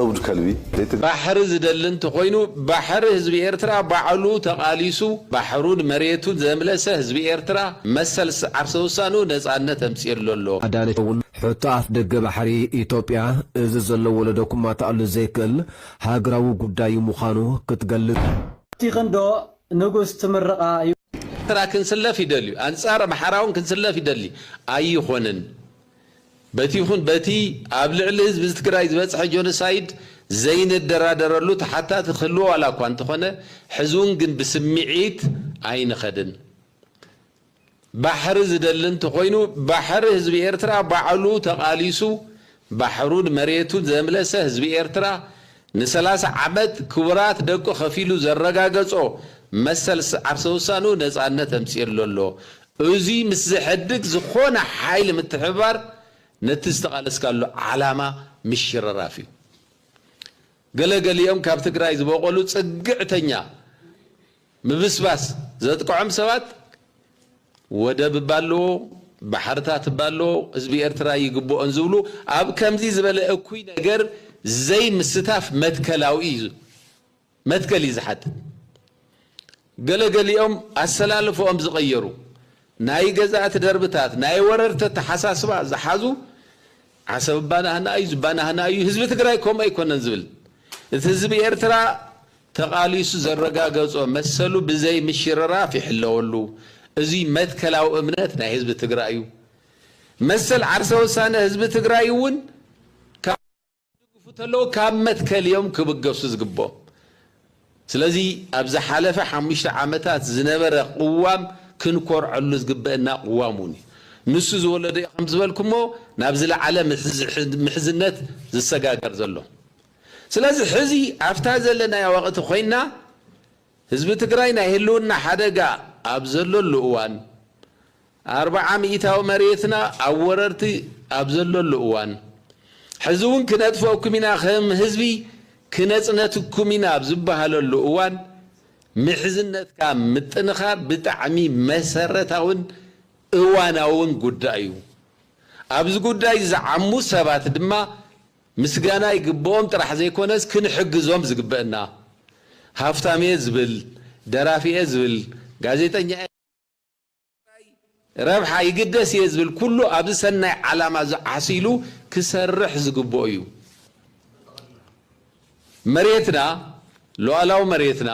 እብድ ከልቢ ባሕሪ ዝደሊ እንተኾይኑ ባሕሪ ህዝቢ ኤርትራ ባዕሉ ተቓሊሱ ባሕሩን መሬቱን ዘምለሰ ህዝቢ ኤርትራ መሰል ዓርሰ ውሳንኡ ነጻነት ኣምጺእሉ ኣሎ። ኣዳነች እውን ሕቶ ኣፍደገ ባሕሪ ኢትዮጵያ እዚ ዘሎ ወለዶ ክማታኣሉ ዘይክእል ሃገራዊ ጉዳዩ ምዃኑ ክትገልጽ። ኣብቲ ክንዶ ንጉስ ትምርቓ ዩ። ኤርትራ ክንስለፍ ይደልዩ ኣንጻር ኣምሓራውን ክንስለፍ ይደሊ ኣይኾንን በቲ ይኹን በቲ ኣብ ልዕሊ ህዝቢ ዝትግራይ ዝበጽሐ ጆኖሳይድ ዘይንደራደረሉ ተሓታቲ ክህልዎ ዋላኳ እንተኾነ ሕዝውን ግን ብስሚዒት ኣይንኸድን ባሕሪ ዝደሊ እንተኾይኑ ባሕሪ ህዝቢ ኤርትራ ባዕሉ ተቓሊሱ ባሕሩን መሬቱን ዘምለሰ ህዝቢ ኤርትራ ንሰላሳ ዓመት ክቡራት ደቁ ከፊሉ ዘረጋገጾ መሰል ዓርሰ ውሳንኡ ነጻነት ኣምጺእሉ ኣሎ። እዙይ ምስ ዘሕድግ ዝኾነ ሓይሊ ምትሕብባር ነቲ ዝተቓለስካሉ ዓላማ ምሽርራፍ እዩ። ገለ ገሊኦም ካብ ትግራይ ዝበቖሉ ጽግዕተኛ ምብስባስ ዘጥቅዖም ሰባት ወደብ እባ ኣለዎ፣ ባሕርታት እባ ኣለዎ፣ ህዝቢ ኤርትራ ይግብኦን ዝብሉ ኣብ ከምዚ ዝበለ እኩይ ነገር ዘይምስታፍ መትከላዊ እዩ መትከል እዩ ዝሓትት። ገለ ገሊኦም ኣሰላልፈኦም ዝቐየሩ ናይ ገዛእቲ ደርብታት ናይ ወረርቲ ኣተሓሳስባ ዝሓዙ ዓሰብ እባናህና እዩ ዝባናህና እዩ ህዝቢ ትግራይ ከምኡ ኣይኮነን ዝብል እቲ ህዝቢ ኤርትራ ተቓሊሱ ዘረጋገፆ መሰሉ ብዘይ ምሽርራፍ ይሕለወሉ እዙይ መትከላዊ እምነት ናይ ህዝቢ ትግራይ እዩ መሰል ዓርሰ ውሳነ ህዝቢ ትግራይ እውን ክድግፉ ተለዉ ካብ መትከል እዮም ክብገሱ ዝግብኦም። ስለዚ ኣብ ዝሓለፈ ሓሙሽተ ዓመታት ዝነበረ ቅዋም ክንኮርዐሉ ዝግበእና ቅዋም እውን እዩ። ንሱ ዝወለዶ እዩ ከም ዝበልኩሞ ናብ ዝለዓለ ምሕዝነት ዝሰጋገር ዘሎ። ስለዚ ሕዚ ኣብታ ዘለናያ ወቕቲ ኮይንና ህዝቢ ትግራይ ናይ ህልውና ሓደጋ ኣብ ዘለሉ እዋን፣ ኣርብዓ ሚኢታዊ መሬትና ኣብ ወረርቲ ኣብ ዘለሉ እዋን፣ ሕዚ እውን ክነጥፈኩም ኢና ከም ህዝቢ ክነፅነትኩም ኢና ኣብ ዝበሃለሉ እዋን ምሕዝነትካ ምጥንኻር ብጣዕሚ መሰረታዊን እዋናዊን ጉዳይ እዩ። ኣብዚ ጉዳይ ዝዓሙ ሰባት ድማ ምስጋና ይግበኦም ጥራሕ ዘይኮነስ ክንሕግዞም ዝግበእና። ሃፍታም'የ ዝብል፣ ደራፊ'የ ዝብል፣ ጋዜጠኛ'የ። ረብሓ ይግደስ እየ ዝብል ኩሉ ኣብዚ ሰናይ ዓላማ እዚ ዓሲሉ ክሰርሕ ዝግብኦ እዩ። መሬትና ሉኣላዊ መሬትና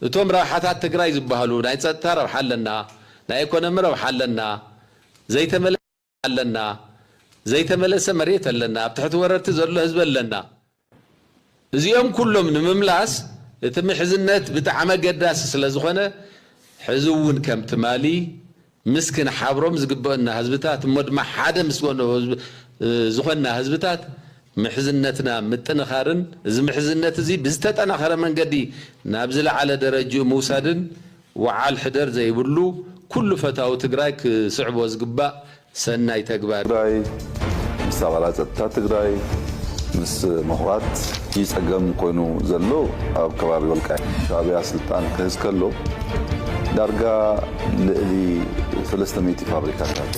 እቶም ረብሓታት ትግራይ ዝበሃሉ ናይ ፀጥታ ረብሓ ኣለና፣ ናይ ኢኮኖሚ ረብሓ ኣለና፣ ዘይተመለ ኣለና ዘይተመለሰ መሬት ኣለና ኣብ ትሕቲ ወረርቲ ዘሎ ህዝቢ ኣለና እዚኦም ኩሎም ንምምላስ እቲ ምሕዝነት ብጣዕሚ ኣገዳሲ ስለዝኾነ ሕዚ እውን ከም ትማሊ ምስ ክንሓብሮም ዝግበኡና ህዝብታት እሞ ድማ ሓደ ምስ ዝኾንና ህዝብታት ምሕዝነትና ምጥንኻርን እዚ ምሕዝነት እዚ ብዝተጠናኸረ መንገዲ ናብ ዝለዓለ ደረጅኡ ምውሳድን ወዓል ሕደር ዘይብሉ ኩሉ ፈታዊ ትግራይ ክስዕቦ ዝግባእ ሰናይ ተግባር እዩ። ትግራይ ምስ ኣባላት ፀጥታ ትግራይ ምስ ምሁራት እዪ ፀገም ኮይኑ ዘሎ ኣብ ከባቢ ወልቃይት ሻዕብያ ስልጣን ክሕዝ ከሎ ዳርጋ ልእሊ ሰለስተ ሚእቲ ፋብሪካታት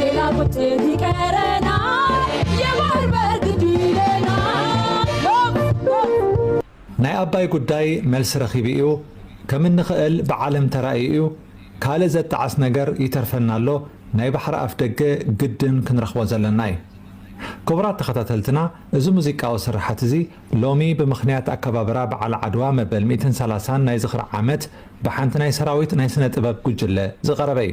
ሌላ ቁጥብ ይቀረናል የባህር በር ግድ ይለናል ናይ ኣባይ ጉዳይ መልሲ ረኺቡ እዩ ከም እንኽእል ብዓለም ተራእዩ እዩ ካልእ ዘጣዕስ ነገር ይተርፈና ኣሎ ናይ ባሕሪ ኣፍደገ ግድን ክንረኽቦ ዘለና እዩ ክቡራት ተኸታተልትና እዚ ሙዚቃዊ ስርሓት እዚ ሎሚ ብምኽንያት ኣከባብራ በዓል ዓድዋ መበል ሚእትን ሰላሳን ናይ ዝኽሪ ዓመት ብሓንቲ ናይ ሰራዊት ናይ ስነ ጥበብ ጉጅለ ዝቐረበ እዩ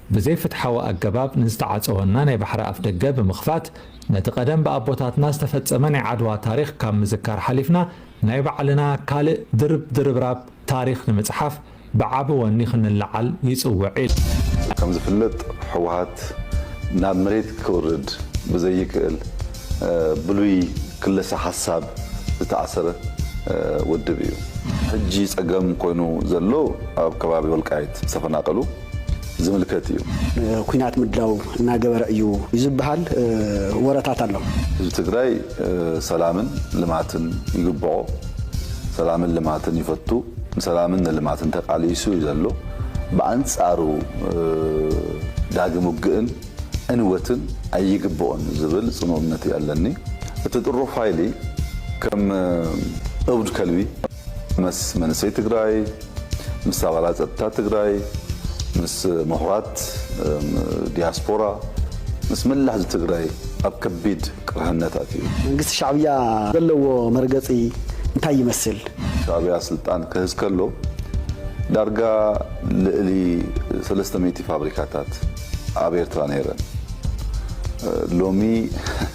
ብዘይፍትሓዊ ኣገባብ ንዝተዓጸወና ናይ ባሕሪ ኣፍደገ ብምኽፋት፣ ነቲ ቀደም ብኣቦታትና ዝተፈጸመ ናይ ዓድዋ ታሪኽ ካብ ምዝካር ሓሊፍና ናይ ባዕልና ካልእ ድርብ ድርብራብ ታሪኽ ንምጽሓፍ ብዓቢ ወኒ ክንለዓል ይጽውዕ ኢሉ። ከምዝፍለጥ ህወሓት ናብ መሬት ክውርድ ብዘይክእል ብሉይ ክለሳ ሓሳብ ዝተኣሰረ ውድብ እዩ። ሕጂ ጸገም ኮይኑ ዘሎ ኣብ ከባቢ ወልቃይት ዝተፈናቀሉ፣ ዝምልከት እዩ። ንኩናት ምድላው እናገበረ እዩ ዝብሃል ወረታት ኣሎ። ህዝቢ ትግራይ ሰላምን ልማትን ይግብኦ። ሰላምን ልማትን ይፈቱ። ንሰላምን ንልማትን ተቃሊሱ እዩ ዘሎ። ብኣንፃሩ ዳግም ውግእን ዕንወትን ኣይግብኦን ዝብል ፅኑእ እምነት እዩ ኣለኒ። እቲ ጥሩፍ ሃይሊ ከም እብድ ከልቢ። ምስ መንእሰይ ትግራይ፣ ምስ ኣባላት ፀጥታ ትግራይ፣ ምስ ምሁራት ዲያስፖራ፣ ምስ መላእ ህዝቢ ትግራይ ኣብ ከቢድ ቅርሕነት ኣትዩ። መንግስቲ ሻዕብያ ዘለዎ መርገፂ እንታይ ይመስል? ሻዕብያ ስልጣን ክሕዝ ከሎ ዳርጋ ልእሊ ሰለስተ ሚእቲ ፋብሪካታት ኣብ ኤርትራ ነይረን። ሎሚ።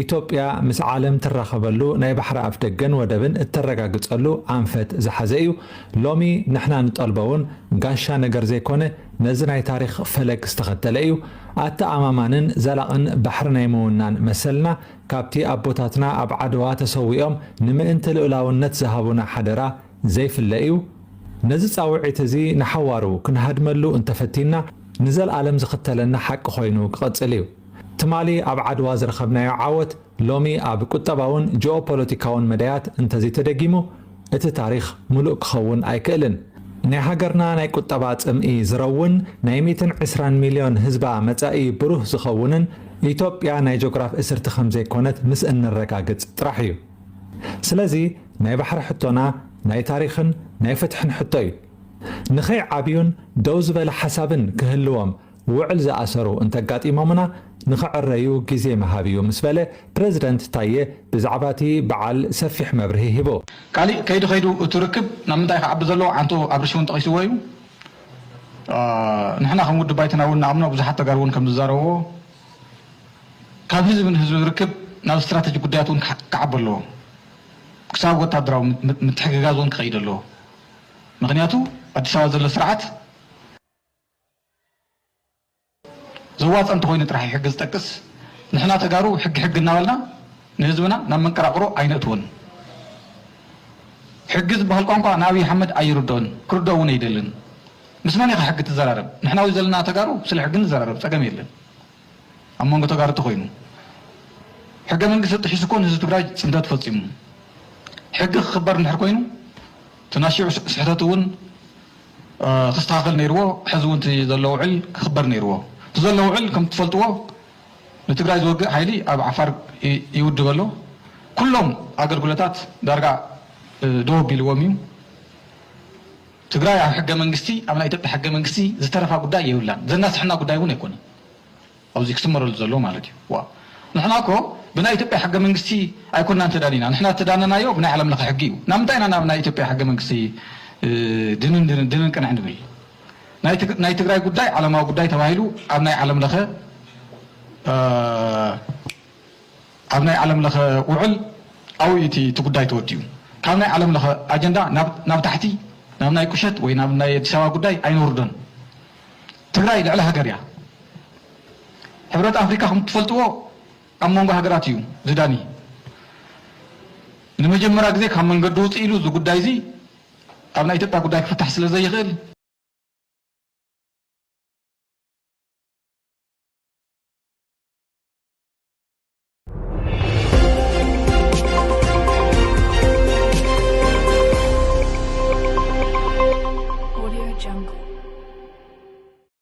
ኢትዮጵያ ምስ ዓለም ትራኸበሉ ናይ ባሕሪ ኣፍደገን ወደብን እተረጋግፀሉ ኣንፈት ዝሓዘ እዩ። ሎሚ ንሕና ንጠልቦ እውን ጋሻ ነገር ዘይኮነ ነዚ ናይ ታሪኽ ፈለግ ዝተኸተለ እዩ። ኣተኣማማንን ዘላቕን ባሕሪ ናይ ምውናን መሰልና ካብቲ ኣቦታትና ኣብ ዓድዋ ተሰዊኦም ንምእንቲ ልኡላውነት ዝሃቡና ሓደራ ዘይፍለ እዩ። ነዚ ፃውዒት እዚ ንሓዋሩ ክንሃድመሉ እንተፈቲንና ንዘልኣለም ዝኽተለና ሓቂ ኮይኑ ክቕፅል እዩ። ትማሊ ኣብ ዓድዋ ዝረኸብናዮ ዓወት ሎሚ ኣብ ቁጠባውን ጂኦፖለቲካውን መዳያት እንተዘይተደጊሙ እቲ ታሪኽ ምሉእ ክኸውን ኣይክእልን። ናይ ሃገርና ናይ ቁጠባ ጽምኢ ዝረውን፣ ናይ ሚእትን ዕስራን ሚልዮን ህዝባ መጻኢ ብሩህ ዝኸውንን ኢትዮጵያ ናይ ጆግራፍ እስርቲ ከምዘይኮነት ምስ እነረጋግጽ ጥራሕ እዩ። ስለዚ ናይ ባሕሪ ሕቶና ናይ ታሪኽን ናይ ፍትሕን ሕቶ እዩ። ንኸይዓብዩን ደው ዝበለ ሓሳብን ክህልዎም ውዕል ዝኣሰሩ እንተጋጢሞምና ንኽዕረዩ ግዜ ምሃብ እዩ ምስ በለ ፕረዚደንት ታዬ ብዛዕባ እቲ በዓል ሰፊሕ መብርሂ ሂቡ። ካሊእ ከይዱ ከይዱ እቲ ርክብ ናብ ምንታይ ክዓቢ ዘለዎ ዓንቶ ኣብርሽ እውን ጠቒስዎ እዩ። ንሕና ከም ውድብ ባይቶና እውን ንኣምኖ ብዙሓት ተጋሩ እውን ከምዝዛረብዎ ካብ ህዝቢ ንህዝቢ ዝርክብ ናብ ስትራተጂ ጉዳያት እውን ክዓቢ ኣለዎ ክሳብ ወታደራዊ ምትሕግጋዝ እውን ክኸይድ ኣለዎ ምኽንያቱ ኣዲስ ኣበባ ዘሎ ስርዓት ዘዋጽእ እንተኾይኑ ጥራሕ እዩ ሕጊ ዝጠቅስ። ንሕና ተጋሩ ሕጊ ሕጊ እናበልና ንህዝብና ናብ መንቀራቕሮ ኣይነእትዎን። ሕጊ ዝበሃል ቋንቋ ንኣብይ ኣሕመድ ኣይርድኦን፣ ክርድኦ እውን ኣይደልን። ምስ መን ኢኻ ሕጊ ትዘራረብ? ንሕና ኣብዚ ዘለና ተጋሩ ስለ ሕጊ ንዘራረብ፣ ጸገም የለን። ኣብ መንጎ ተጋሩ እንተኾይኑ ሕገ መንግስቲ ጥሒሱ እኮ ንህዝቢ ትግራይ ጽንተት ፈጺሙ። ሕጊ ክኽበር እንድሕር ኮይኑ እቲ ናሽዑ ስሕተት እውን ክስተኻኸል ነይርዎ ሐዚ እውን እቲ ዘሎ ውዕል ክኽበር ነይርዎ እቲ ዘሎ ውዕል ከምቲ ትፈልጥዎ ንትግራይ ዝወግእ ሓይሊ ኣብ ዓፋር ይውድብ ኣሎ ኩሎም ኣገልግሎታት ዳርጋ ደው ኣቢልዎም እዩ ትግራይ ኣብ ሕገመንግስቲ ኣብ ናይ ኢትዮጵያ ሕገመንግስቲ ዝተረፋ ጉዳይ የብላን ዘናስሐና ጉዳይ እውን ኣይኮነን። ኣብዚ ክስመረሉ ዘለዎ ማለት እዩ። ዋእ ንሕና እኮ ብናይ ኢትዮጵያ ሕገ መንግስቲ ኣይኮናን ተዳኒና ንሕና ዝተዳነናዮ ብናይ ዓለም ለኸ ሕጊ እዩ ናምንታይ ኢና ናብ ናይ ኢትዮጵያ ሕገ መንግስቲ ድንን ድንን ድንን ቅንዕ ንብል ናይ ትግራይ ጉዳይ ዓለማዊ ጉዳይ ተባሂሉ ኣብ ናይ ዓለም ለኸ ኣብ ናይ ዓለም ለኸ ውዕል ኣብኡ እዩ እቲ ጉዳይ ተወዲኡ ካብ ናይ ዓለም ለኸ ኣጀንዳ ናብ ታሕቲ ናብ ናይ ቁሸት ወይ ናብ ናይ ኣዲስ ኣበባ ጉዳይ ኣይነውርዶን ትግራይ ልዕሊ ሃገር እያ ሕብረት ኣፍሪካ ከምትፈልጥዎ ኣብ መንጎ ሃገራት እዩ ዝዳኒ። ንመጀመርያ ግዜ ካብ መንገዲ ውፅእ ኢሉ እዚ ጉዳይ እዚ ኣብ ናይ ኢትዮጵያ ጉዳይ ክፍታሕ ስለዘይኽእል፣